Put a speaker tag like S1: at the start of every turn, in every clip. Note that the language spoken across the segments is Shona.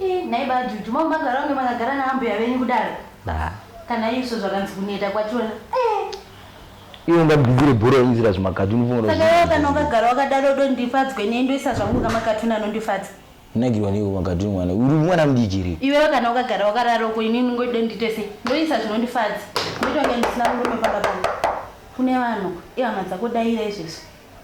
S1: Ii nhai ba Juju mamagara kunge makagara naambuya venyu kudaro Nah. kana isu zvakanzi kuneta kwachona ee
S2: Iwe ungagugure bhora wainyizira zvimakati unofunga kuti saka iwe kana ukagara
S1: wakadaro dondifadzwe nei ndoisa zvangu kamakatuni anondifadza Unagirwa neiko
S2: makatuni mwana uri mwana mudiki here? iwewe kana ukagara
S1: wakarara uko ini unongoti dondiite sei ndoisa zvinondifadza ndotonge ndisina murume pamba pangu kune vanhu ihama dzako daira izvezvi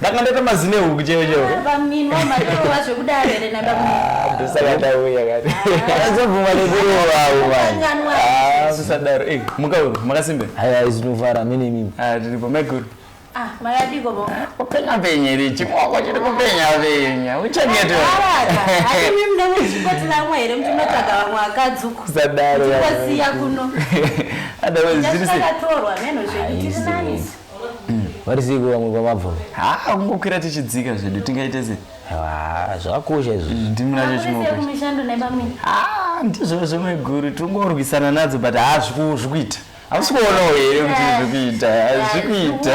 S2: ndanga
S3: ndaita mazine huku cheo cheo
S2: ndosakadauyaadaro
S3: mukauru makasimbe aya izinovara
S2: mene mimi ah, tiripo maiguru
S3: ah,
S1: kupenya penye
S3: richi mwako chiri kupenya penya
S1: uchanyetusadaro varisiko
S2: vamwe kwamabva haa kungokwira
S3: tichidzika zvedu tingaite se zvakakosha
S2: izvo mm, ndimunacho chimomishando
S3: nebamwe
S1: haa ndizvo
S3: zvemeguru tingorwisana nadzo but haa zvikuita hausi kuonawo here kuti zvikuita zvikuita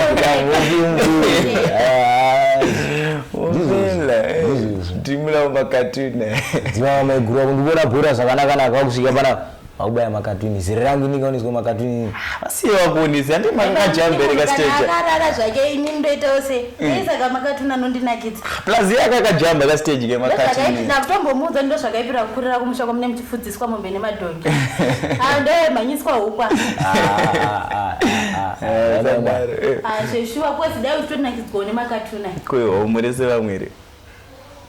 S3: ndimulawo makatune dzimama maiguru
S2: akundibora bora zvakanakanaka vakusvika panapa Makubaya makatuni ziri rangu inenge unizwa makatuni. Vasiye vakuonisi
S3: handi makakajambereka stage. Akarara zvake ini
S1: ndoitawo se. Nei saka makatuni anondinakidza. Plus yeye akakajamba
S3: ka stage ke makatuni. Na kutombomuudza ndo
S1: zvakaipira kukurira kumusha kwamune muchifudziswa mombe nemadhongi. Ah ndo manyiswa hukwa. Ah ah ah. Ah sheshuwa kwesi dai uchitonakidzwa nemakatuni. Kuyo murese
S3: vamwere.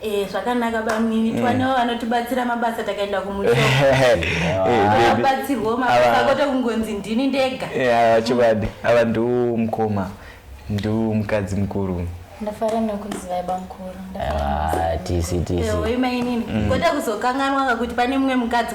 S3: Eh, zvakanaka
S1: bamnini mm. twanewo vanotibatsira mabasa takaenda kumutoabatsirwo eh, mabasa kote kungonzi ndini ndega avachivadi eh, ava
S3: ndiwo mukoma ndiwo mukadzi mukuru ndafara nekuziva
S1: bamkuru tisi
S2: tisi imainini
S1: kote kuzokanganwaka kuti pane mumwe mukadzi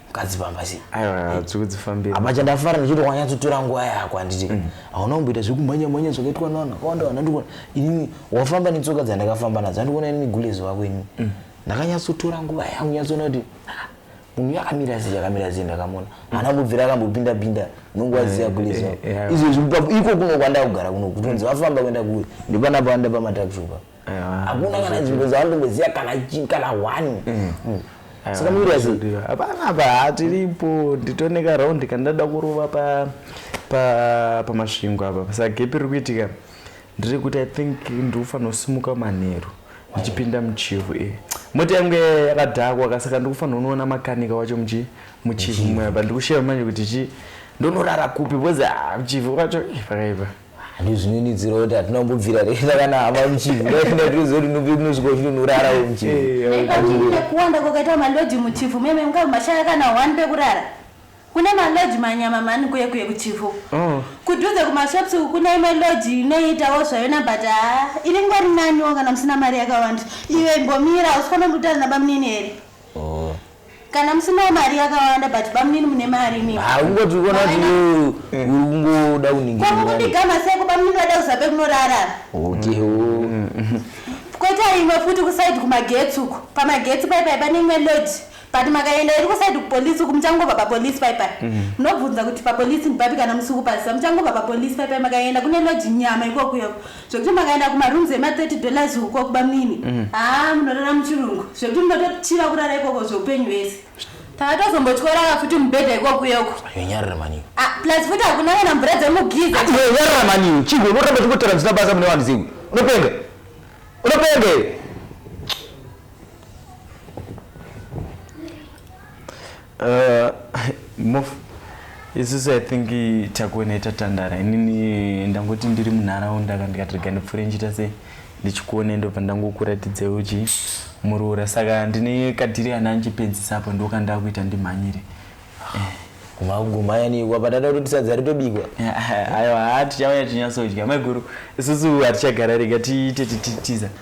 S2: mukadzi pamba sei aiwa tiri kudzifambira
S3: apa chandafara ndichiti
S2: wanyatsotora nguva yako handiti mm. hauna kumboita zvekumhanya mhanya zvakaitwa navanhu vakawanda vanhu andikuona inini wafamba netsoka dzandakafamba nadzo andikuona inini gulezo vako inini mm. ndakanyatsotora nguva yangu nyatsoona kuti munhu yakamira sei yakamira sei ndakamona haana kubvira akambopinda pinda nonguva dziya eh, gulezo eh, eh, izvezvi iko kuno kwandakugara kuno kutonzi vafamba kuenda kuwe ndipanapo anda pamatakishopa hakuna kana nzvimbo dzavandomboziva kana kana one mm. Mm. saka muiri sei hapana apa
S3: hatiripo nditone karaundi kandada kurova pamasvingo apa pasagepi riri kuitika ndiri kuti i think ndikufanira kusimuka manheru ndichipinda muchivu e moti yange yakadhakwa kasaka ndikufanira unoona makanika wacho muchi muchivu mweapa ndikusheva manje kuti chi ndonorara kupi bcoz ah, muchivu wacho eh, pakaipa ndozvinonidzira
S2: kuti hatina kumbobvira resa kana hama muchivi ndaiindaizotinopinosvikochinunorara muchiviekuwanda kwakaita
S1: maloji muchifu meme mukava mashaya kana one pekurara kune maloji manyama mani kuye kuye kuchifu oh. kudhuze kumashops uku kune imwe loji inoitawo zvayona but haa ah, iri ngwari naniwo kana musina mari yakawanda iwe imbomira usifanondiutana nabamunini here Oh. Kana musinawo mari yakawanda but bamunini mune mari imi. Ah, ungoti uona kuti
S2: wewe uri kungoda kuningirira. Kwa kundigama sei ko
S1: bamunini vada kuzabe kunorara. Okay. Oh. Koita imwe futi kuside kumagetsi uko. Pamagetsi pai pai pane imwe lodge. But makaenda iri kuside kupolice uko muchangobva papolice pai pai. Munobvunza kuti papolice ndipapi kana musikupaziva muchangobva papolice pai pai makaenda kune lodge nyama ikoko yoko. zvekuti makaenda kumarooms ema 30 dollars uko kubamnini mm. haa munorara muchirungu zvekuti munotochiva kurara ikoko zveupenyu vese takatozombotorara futi mubhedha ikoko yoko yonyarira mani ah,
S2: plus futi hakuna
S1: kana mvura dzemugiza ah, yonyarira mani
S2: chigo unoramba chikutaura zvisina basa mune vanhu zimwe unopenga unopenga
S3: Uh, mof isusu i think takuona itatandara inini ndangoti ndiri munharaunda ka ndikati rega ndipfuure ndichiita sei ndichikuone ndobva ndangokuratidze uchi muroora saka ndine kadhiri ana anchipedzisa apo ndokandakuita ndimhanyire
S2: kumagumhayaniwa patata kuti sadza ritobikwa ayo haa
S3: tichauya chinyasodya maiguru isusu hatichagara rega tiite tititiza ti, ti, ti,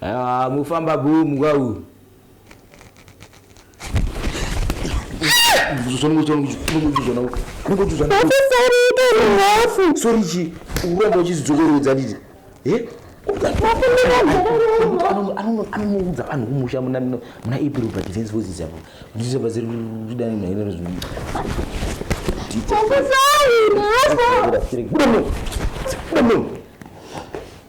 S2: Haa mufamba boom kwau. Sorry chi uramba uchizidzokorodza nditi. Eh? anonoudza vanhu kumusha muna april pa defense forces apo ndisabatsiri kudana naye nezvino Buda muno. Buda muno.